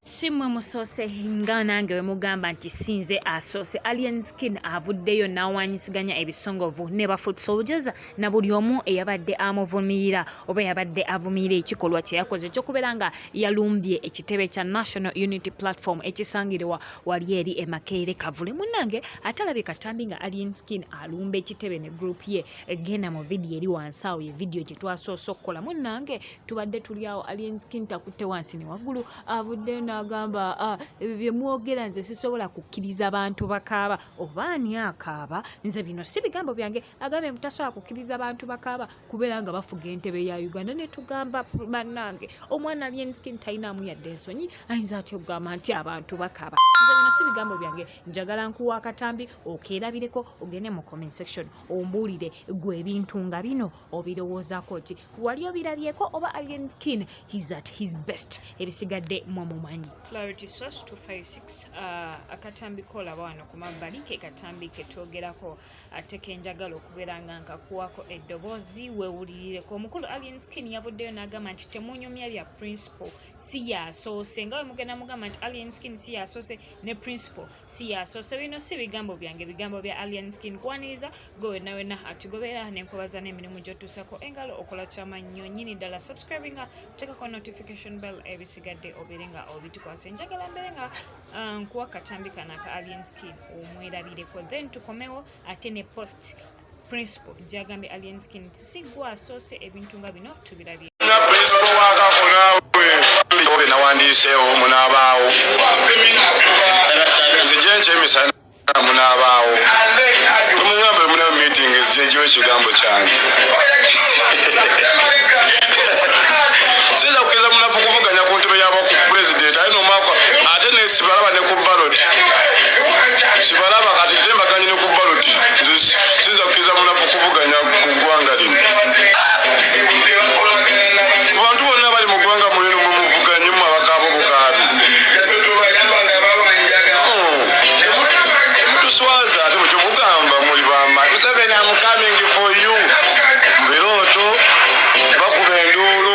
si mwe musoose nga nange bwe mugamba nti sinze asoose alien skin avuddeyo n'awanyisiganya ebisongovu ne bafutsojeza na buli omu eyabadde amuvumirira oba yabadde avumirira ekikolwa kye yakoze ekyokubeera nga yalumbye ekitebe kya national unity platform ekisangiriwa wali eri emakeere kavule munnange atalabi katambi nga alien skin alumba ekitebe ne group ye egenda mu vidiyo eri wansi awo ye vidiyo gye twasoose okukola munnange tubadde tuli awo alienskin takutte wansi ne waggulu avuddeyo n'agamba ah, ebyo bye mwogera nze sisobola kukkiriza bantu bakaaba oba ani akaaba nze bino si bigambo byange agambye mbu tasobola kukkiriza bantu bakaaba kubeera nga bafuga entebe ya uganda ne tugamba bannange omwana alienskin talinaamu yadde ensonyi ayinza atya okugamba nti abantu bakaaba nze bino si bigambo byange njagala nkuwa akatambi okeerabireko ogende mu comment section ombuulire gwe ebintu nga bino obirowoozako ki wali obirabyeko oba alien skin his at his best ebisigadde mwe mumanyi clarity source 256 uh, akatambi kolaba wano ku mabbali ke katambi ketwogerako ate kenjagala okubeera nga nkakuwako eddoboozi wewulirireko omukulu alien skin yavuddeyo n'agamba nti temunyumya bya principle si yasoose nga we mugenda mugamba nti alien skin si yasoose ne principle siyasoose bino si bigambo byange bigambo bya alien skin kwaniriza gwe wenna wenna atugobeera nenkubaza n'emirimu gyotuusako engalo okola kyamannyo nyini ddala subscribing nga tekako notification bell ebisigadde obeere nga obitukwasa enjagala mbeere nga uh, nkuwa katambi kana ka alien skin omwerabireko then tukomewo ate ne post principal gyagambye alien skin nti si gwe asoose ebintu nga bino tubirabye nawandiiseewo munaabaawo nze gyenkyo emisana munaabaawo omugambo emuna meeting ezijejiwo ekigambo kyange sibalaba ne ku baloti sibalaba kati tembaganyi ku baloti sinza kukkiriza munafu kuvuganya ku ggwanga lino abantu bonna bali mu ggwanga mulino mwe muvuganye mu abakaabo bukaabi mutuswaza ate mukyo mugamba muli bama museveni amukamind for you birooto bakuba enduulu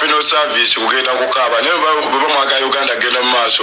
fino service kugenda kukaaba naye bwebamwaga uganda genda mu maaso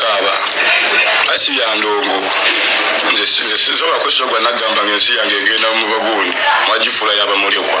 kaaba asi ya ndongo nzisobola kwesula gwa nagamba nga ensi yange egenda mu bagundi mwagifuula yabamulekwa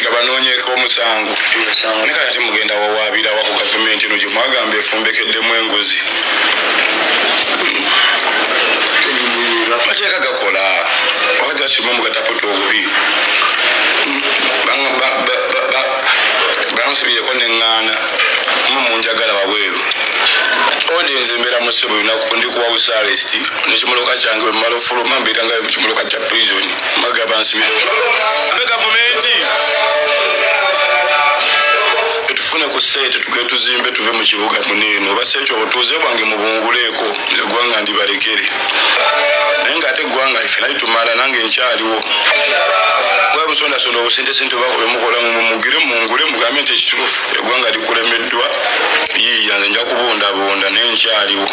nga banoonyeeko omusango ne kati mugenda wawaabira wa ku gavumenti eno gye mwagamba efumbekeddemu enguzi amateeka gakola oba gasima mugataputa obubi bansibireko neŋŋaana mu munjagala wabweru ode nze mbeera musibu lunaku ndikuwa busaalesti nekimoloka kyange bwemala ofuluma mbeera nga mukimoloka kya prisoni magaba nsibiro abe gavumenti tufune ku sente tuge tuzimbe tuve mu kibuga muneeno oba sente obutuuze bwange mubunguleeko egwanga ndibalekere naye nga ate egwanga ife nali tumala nange nkyaliwo bwebusondasonda obusente sente obako bemukola mumugire mungule mugambe nti ekiturufu egwanga likulemeddwa yiiyanze nja kubundabunda naye nkyaliwo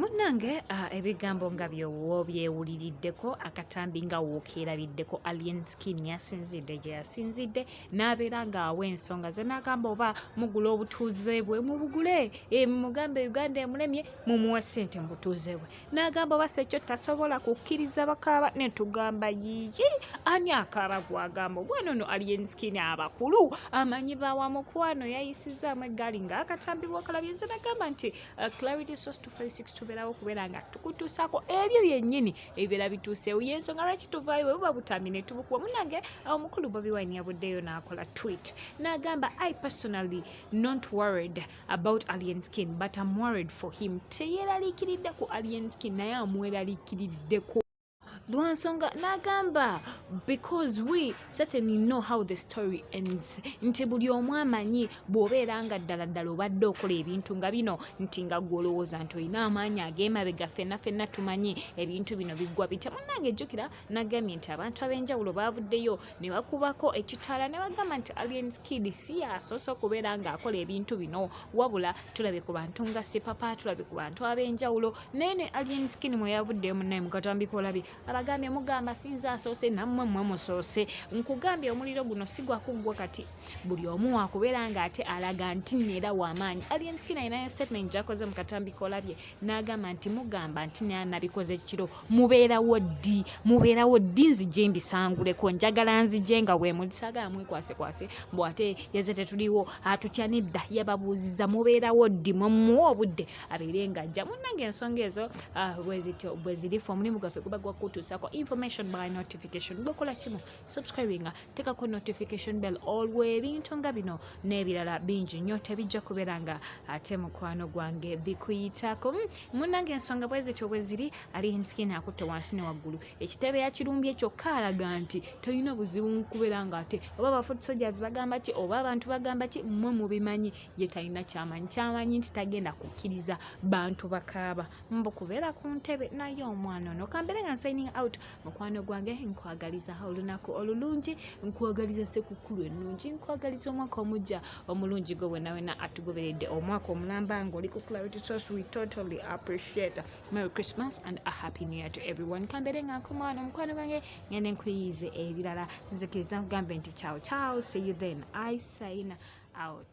munange ebigambo nga byowo byewuliriddeko akatambi nga wookeerabiddeko alien skin yasinzidde gye yasinzidde n'abeera ng'awa ensonga ze n'agamba oba mugula obutuuze bwe mubugule eh, mugambe uganda emulemye mumuwe ssente mu butuuze bwe n'agamba oba sekyo tasobola kukkiriza bakaaba ne tugamba yiyi ani akaaba gwagamba omwana ono alienskini abakulu amanyi bawa mukwano yayisizaamu eggaali ng'akatambi bwakalabye nze nagamba nti uh, clarity sos 256 tubeerawo okubeera nga tukutuusaako ebyo byennyini ebibeera bituuseewo yensonga lwaki tuvaayo bwe buba butambi ne tubukuwa munange omukulu bobi wine yabuddeyo n'akola twit n'agamba i personally not worried about alien skin but am worried for him teyeraliikiridde ku alien skin naye amweraliikiriddeko lwansonga n'agamba because we certainly know how the story ends nti buli omu amanyi bw'obeera nga ddala ddala obadde okola ebintu nga bino nti nga gwe olowooza nti olina amaanyi ag'emabega ffenna ffenna tumanyi ebintu bino biggwa bitya munnange jjukira Nagambye nti abantu ab'enjawulo baavuddeyo ne bakubako ekitaala ne bagamba nti Alien Kid si y'asoose okubeera ng'akola ebintu bino wabula tulabye ku bantu nga Sipapa, tulabye ku bantu ab'enjawulo naye ne Alien Skin mwe yavuddeyo munnaye mu katambi k'olabye abagambye mugamba si nze asoose nammwe mmwe musoose nkugambye omuliro guno si gwa kuggwa kati buli omu waakubeera ng'ate alaga nti nno era w'amaanyi. Alien Skin alinayo statement gy'akoze mu katambi k'olabye n'agamba nti mugamba nti naye nabikoze kiro mubeerawo ddi mubeerawo ddi nzije mbisanguleko njagala nzije nga wemusaga amwekwasekwase mbu ate yeze tetuliwo atutya nedda yababuuziza mubeerawo ddi mwemuwa obudde abeere nga ajja munnange ensonga ezo ah, bwezityo bwezirifu omulimu gwaffe guba gwakutuusako information by notification gwekola kimu subscribinga tekako notification bell olwo ebintu nga bino n'ebirala bingi nnyo tebijja kubeera nga ate mukwano gwange bikuyitako hmm, munange ensonga bwezityo bweziri ali nsikini akutte wansi ne waggulu ekitebe yakirumbye kyokka alaga nti tolina buzibu mukubeera nga ate oba abafoot soldiers bagamba ki oba abantu bagamba ki mmwe mubimanyi ye talina kyamanyi kyamanyi nti tagenda kukkiriza bantu bakaaba mbu kubeera ku ntebe naye omwana ono kambeere nga nsigning out mukwano gwange nkwagaliza olunaku olulungi nkwagaliza sekukkulu ennungi nkwagaliza omwaka omujja omulungi gwe wenawena atugoberedde omwaka omulamba nga oli ku clarity sos we totally appreciate merry christmas and a happy new year to everyone kambeere nga nkomaano omukwano gwange ngende nkuyiyize ebirala nzikiriza nkugambe nti ciao ciao see you then i sign out